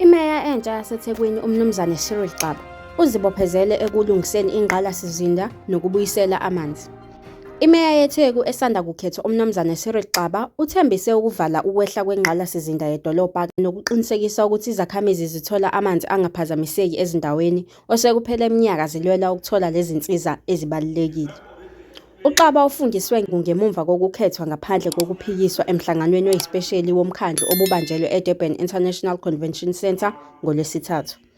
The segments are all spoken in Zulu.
Imeya entsha yaseThekwini uMnumzane Cyril Xaba uzibophezele ekulungiseni ingqalasizinda nokubuyisela amanzi. Imeya yeTheku esanda kukhethwa uMnumzane Cyril Xaba uthembise ukuvala ukwehla kwengqalasizinda yedolobha nokuqinisekisa ukuthi izakhamizi zithola amanzi angaphazamiseki ezindaweni osekuphele iminyaka zilwela ukuthola lezi nsiza ezibalulekile. UXaba ufundiswe ngemumva kokukhethwa ngaphandle kokuphikiswa emhlanganweni oyisipesheli womkhandlu obubanjelwe eDurban International Convention Centre ngoLwesithathu.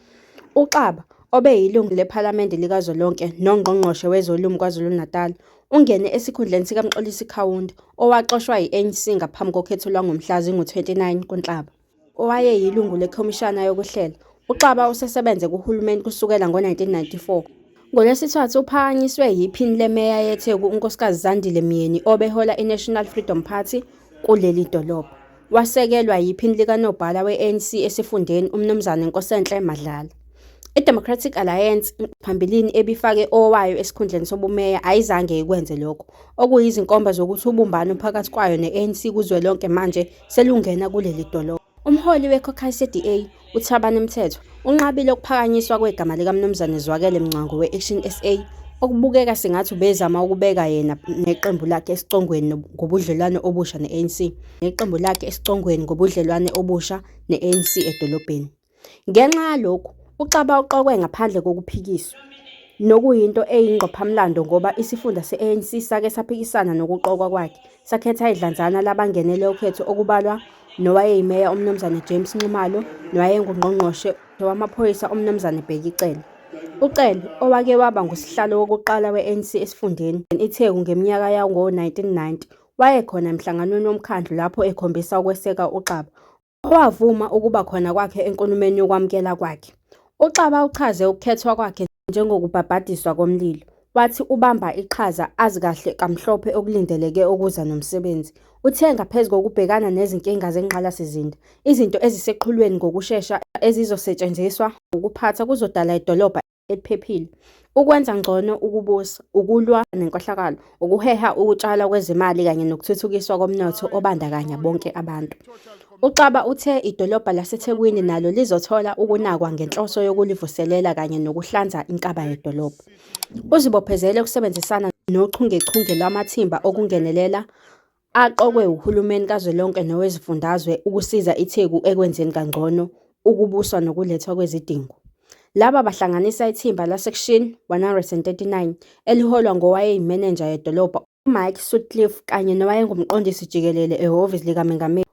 UXaba, obeyilungu lePhalamende likazwelonke noNgqongqoshe wezoLimi KwaZulu-Natal, ungene esikhundleni sikaMxolisi Kaunda, owaxoshwa yi-ANC ngaphambi kokhetho lwangomhla zingu-29 kuNhlaba. Owayeyilungu leKhomishana yokuHlela, uXaba usesebenze kuhulumeni kusukela ngo-1994. NgoLwesithathu uphakanyiswe yiphini lemeya yeTheku uNkosikazi Zandile Myeni obehola iNational Freedom Party kuleli dolobha. Wasekelwa yiphini likanobhala we-ANC esifundeni uMnumzane Nkosenhle Madlala. I-Democratic Alliance phambilini ebifake owayo esikhundleni sobumeya ayizange ikwenze lokho, okuyizinkomba zokuthi ubumbano phakathi kwayo ne-ANC kuzwelonke manje selungena kuleli dolobha. Umholi weCaucus ye-DA, uThabani Mthethwa, unqabile ukuphakanyiswa kwegama likaMnumzane Zwakele Mngcwango we-Action SA, okubukeka sengathi ubezama ukubeka yena neqembu lakhe esicongweni ngobudlelwano obusha ne-ANC neqembu lakhe esicongweni ngobudlelwane obusha ne-ANC edolobheni. Ngenxa yalokhu, uXaba uqokwe ngaphandle kokuphikiswa, nokuyinto eyingqophamlando ngoba isifunda se-ANC sake saphikisana nokuqokwa kwakhe Sakhetha idlanzana labangenele ukhetho okubalwa nowayeyimeya uMnumzane James Nxumalo nowayengungqongqoshe wamaphoyisa uMnumzane Bheki Cele. UCele, owake waba ngusihlalo wokuqala we-ANC esifundeni iTheku ngeminyaka yango-1990, wayekhona emhlanganweni womkhandlu lapho ekhombisa ukweseka uXaba. Owavuma ukuba khona kwakhe enkulumeni yokwamukela kwakhe, uXaba uchaze ukukhethwa kwakhe njengokubhabhadiswa komlilo, wathi ubamba iqhaza azi kahle kamhlophe okulindeleke ukuza nomsebenzi. Uthe ngaphezu kokubhekana nezinkinga zengqalasizinda, izinto eziseqhulwini ngokushesha ezizosetshenziswa wukuphatha kuzodala idolobha eliphephile, ukwenza ngcono ukubusa, ukulwa nenkohlakalo, ukuheha ukutshalwa kwezimali kanye nokuthuthukiswa komnotho obandakanya bonke abantu. UXaba uthe idolobha laseThekwini nalo lizothola ukunakwa ngenhloso yokulivuselela kanye nokuhlanza inkaba yedolobha. Uzibophezele ukusebenzisana nochungechunge lwamathimba okungenelela aqokwe wuhulumeni kazwelonke nowezifundazwe ukusiza iTheku ekwenzeni kangcono ukubuswa nokulethwa kwezidingo. Laba bahlanganisa ithimba laseKushin 139 eliholwa ngowayeyimenenja yedolobha uMike Sutcliffe kanye nowayengumqondisi jikelele ehhovisi likamengameli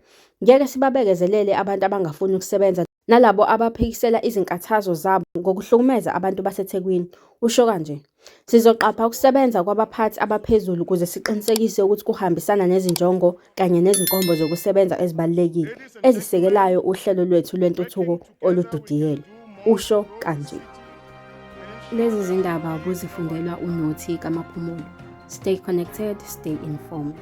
Ngeke sibabekezelele abantu abangafuni ukusebenza nalabo abaphikisela izinkathazo zabo ngokuhlukumeza abantu baseThekwini, usho kanje. Sizoqapha ukusebenza kwabaphathi abaphezulu ukuze siqinisekise ukuthi kuhambisana nezinjongo kanye nezinkombo zokusebenza ezibalulekile ezisekelayo uhlelo lwethu lwentuthuko oludidiyelwe, usho kanje. Lezi zindaba ubuzifundelwa uNothi kaMaphumulo. Stay connected, stay informed.